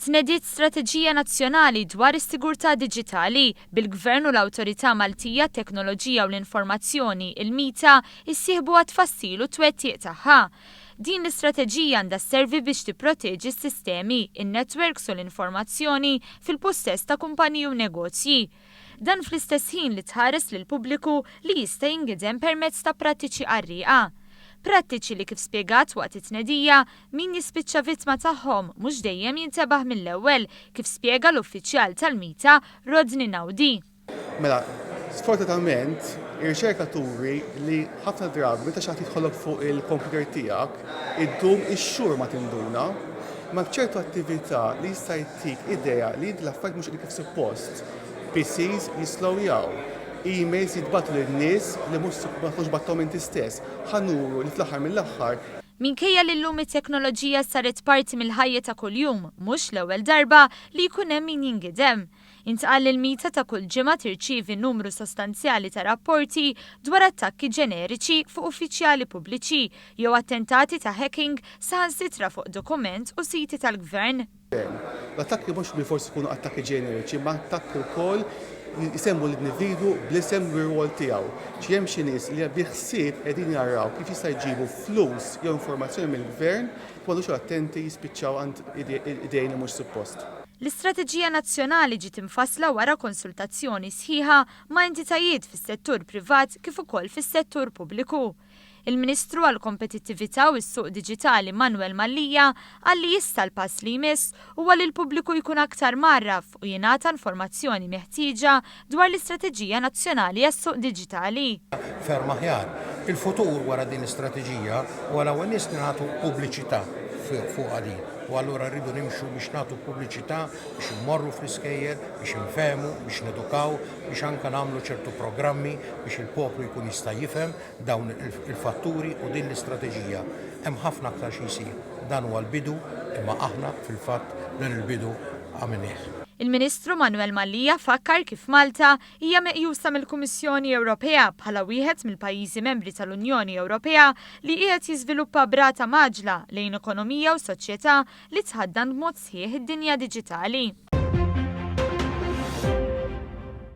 Tnediet strateġija nazzjonali dwar is-sigurtà diġitali, bil-Gvern u l-Awtorità Maltija għat-Teknoloġija u l-Informazzjoni, il-MITA, issieħbu għat-tfassil u t-twettiq tagħha. Din l-istrateġija għandha sservi biex tipproteġi s-sistemi, in-netwerks u l-informazzjoni fil-pussess ta' kumpaniji u negozji, Dan fl-istess ħin li tħares lill-pubbliku li jista' jingiedem permezz ta' prattiċi qarrieqa. Prattiċi li kif spjegat waqt it-tnedija, min jispiċċa vittma tagħhom mhux dejjem jintebaħ mill-ewwel, kif spjega l-uffiċjal tal-mita Rodney Naudi. Mela, sfortunatament, ir-riċerka turi li ħafna drabi meta xi ħadd jidħolok fuq il-kompjuter tiegħek, iddum ix-xhur ma tinduna. Imma b'ċertu attività li jista' Tik idea li l-affarijiet mhux qegħdin kif suppost. PCs jisslowjaw. Emails jitbagħtu lil nies li mhux supp ma tkunx bagħthom inti stess. Ħa nuru li fl-aħħar mill-aħħar. Minkejja li llum it-teknoloġija saret parti mill-ħajja ta' kuljum, mhux l-ewwel darba li jkun hemm min jingidem. Intqal li l-Meta ta' kull ġimgħa tirċievi numru sostanzjali ta' rapporti dwar attakki ġeneriċi fuq uffiċjali pubbliċi jew attentati ta' hacking saħansitra fuq dokument u siti tal-gvern. Dan. L-attakki mhux bilfors ikunu attakki ġeneriċi imma attakki wkoll li jsemmu l-individwu bl-isem u r-rwol tiegħu. Xi hemm xi nies li bi ħsieb qegħdin jaraw kif jista' jġibu flus jew informazzjoni mill-Gvern li m'għadux attenti jispiċċaw għand idejn li mhux suppost. L-istrateġija nazzjonali ġiet imfassla wara konsultazzjoni sħiħa ma' entitajiet fis-settur privat kif ukoll fis-settur pubbliku. Il-Ministru għall-Kompetittività u s-Suq Diġitali Manwel Mallia qal li issa l-pass li jmiss huwa li l-pubbliku jkun aktar mgħarraf u jingħata informazzjoni meħtieġa dwar l-Istrateġija Nazzjonali għas-Suq Diġitali. ferm aħjar. Il-futur wara din l-istrateġija huwa l-ewwel nies li nagħtu pubbliċità fuqha din u allura rridu nimxu biex nagħtu pubbliċità biex immorru fl-iskejjel, biex infehmu, biex nedukaw, biex anke nagħmlu ċertu programmi biex il-poplu jkun jista' jifhem dawn il-fatturi u din l-istrateġija. Hemm ħafna aktar xi jsir. Dan huwa l-bidu imma aħna fil-fatt dan il-bidu għamilnieh. Il-Ministru Manuel Mallia fakkar kif Malta hija meqjusa mill-Kummissjoni Ewropea bħala wieħed mill-pajjiżi membri tal-Unjoni Ewropea li qiegħed jiżviluppa b'rata mgħaġġla lejn ekonomija u soċjetà li tħaddan b'mod sħiħ id-dinja diġitali.